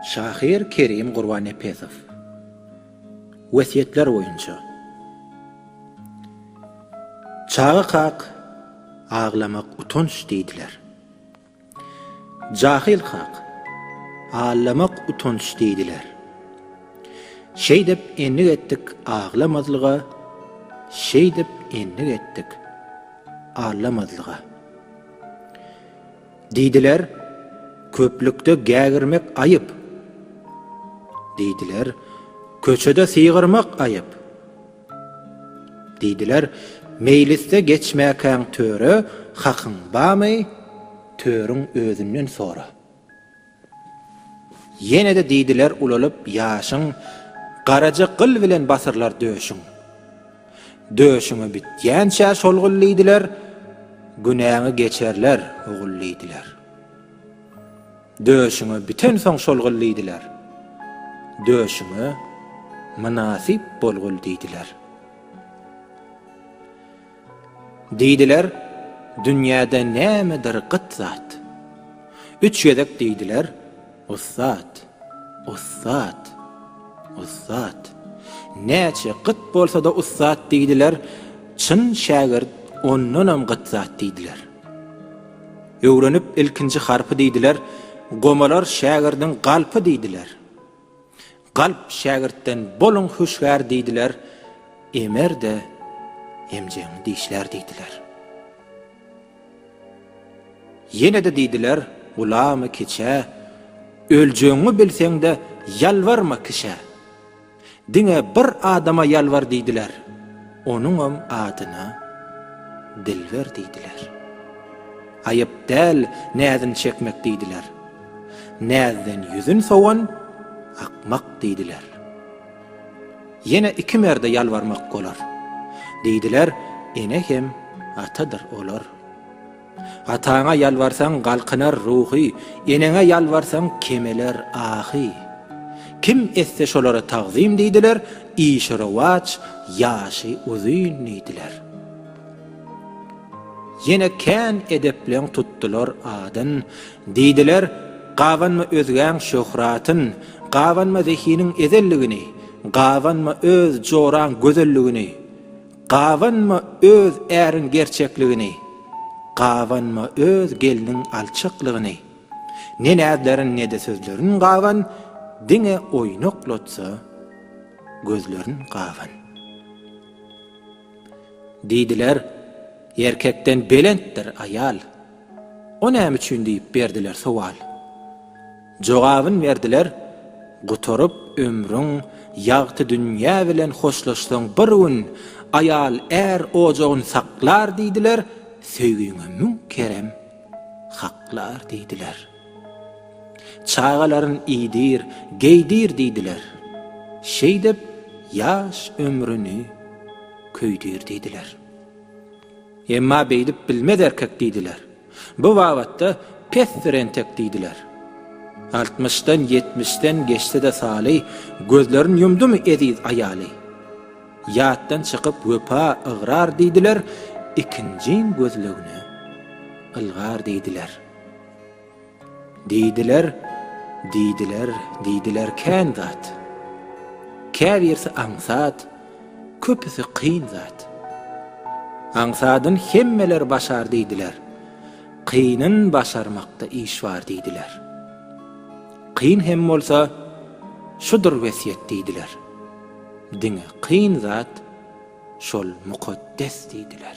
Şahyr Kerim Gurbannepesow Wesýetler boýunça Çaga kak aglamak utanç diýdiler. Jahyl kak Allamak utanç diýdiler. Şeýdip endik etdik aglamazlyga, Şeýdip endik etdik allamazlyga. Diýdiler, Köplükde gägirmek aýyp. Diýdiler, Köçede sygyrmak aýyp. Diýdiler, Meýlisde geçmäkäň töre, hakyň bamy, törüň özünden sora. Ýene-de diýdiler ulalyp ýaşyň, Garaja gyl bilen basyrlar döşüň. Döşüňi bitýänçä şol gyl diýdiler, Günäňi geçerler, ogul diýdiler. Döşüňi bitensoň şol gyl diýdiler, Döşüňe mynasyp bol gul diýdiler. Diýdiler, Dünýäde nämedir gyt zat. Üç gezek diýdiler, Ussat! Ussat! Ussat! Näçe gyt bolsa-da ussat diýdiler, Çyn şägirt ondanam gyt zat diýdiler. Öwrenip ilkinji harpy diýdiler, Gomalar şägirdiň galpy diýdiler. Galp şägirtden boluň hüşgär diýdiler, emer-de emjegiňi dişlär diýdiler. Ýene-de diýdiler, gulamy kiçä, öljegiňi bilseň-de ýalbarma kişä. Diňe bir adama ýalbar diýdiler, onuňam adyna Dilber diýdiler. Aýyp däl näzin çekmek diýdiler. Näzden ýüzün sowan akmak diýdiler. Ýene iki merde ýalbarmak bolar. Diýdiler, ene hem atadyr olar. Ataňa ýalbarsaň galkynar ruhy, eneňe ýalbarsaň kemeler ahy. Kim etse şolara tagzym diýdiler, işi rowaç, ýaşy uzyn diýdiler. Ýene kän edepleň tutdular adyn, Diýdiler, Gabanma özgäň şöhratyn, Gabanma zehiniň ezelligini, Gabanma öz joraň gözelligini, Gabanma öz äriň gerçekligini, Gabanma öz gelniň alçaklygyny. Ne näzlerin ne-de sözlerin gaban, Diňe oýnaklatsa gözlerin gaban. Diýdiler, Erkekden belentdir aýal. O näme üçin diýip berdiler sowal. Jogabyn berdiler, Gutaryp ömrüň, ýagty dünýä bilen hoşlaşsaň bir gün aýal är ojagyn saklar diýdiler, söýgiňe müň kerem haklar diýdiler. Çagalaryn iýdir, geýdir diýdiler. Şeýdip, ýaş ömrüni köýdür diýdiler. Emma beýdip bilmez erkek diýdiler. Bu babatda pesdir entek diýdiler. Altmyşdan, ýetmişden geçse-de Saly, gözlerin ýumdumy eziz aýaly? Ýatdan çykyp wepa ygrar diýdiler, ikinjin gözlegine ylgar diýdiler. Diýdiler, diýdiler, diýdiler kän zat. Käbirsi aňsat, köpüsi kyn zat. Aňsadyn hemmeler başar diýdiler, kynyn başarmakda iş bar diýdiler. Kyn hem bolsa, şudur wesýet diýdiler, diňe kyn zat, şol mukaddes diýdiler.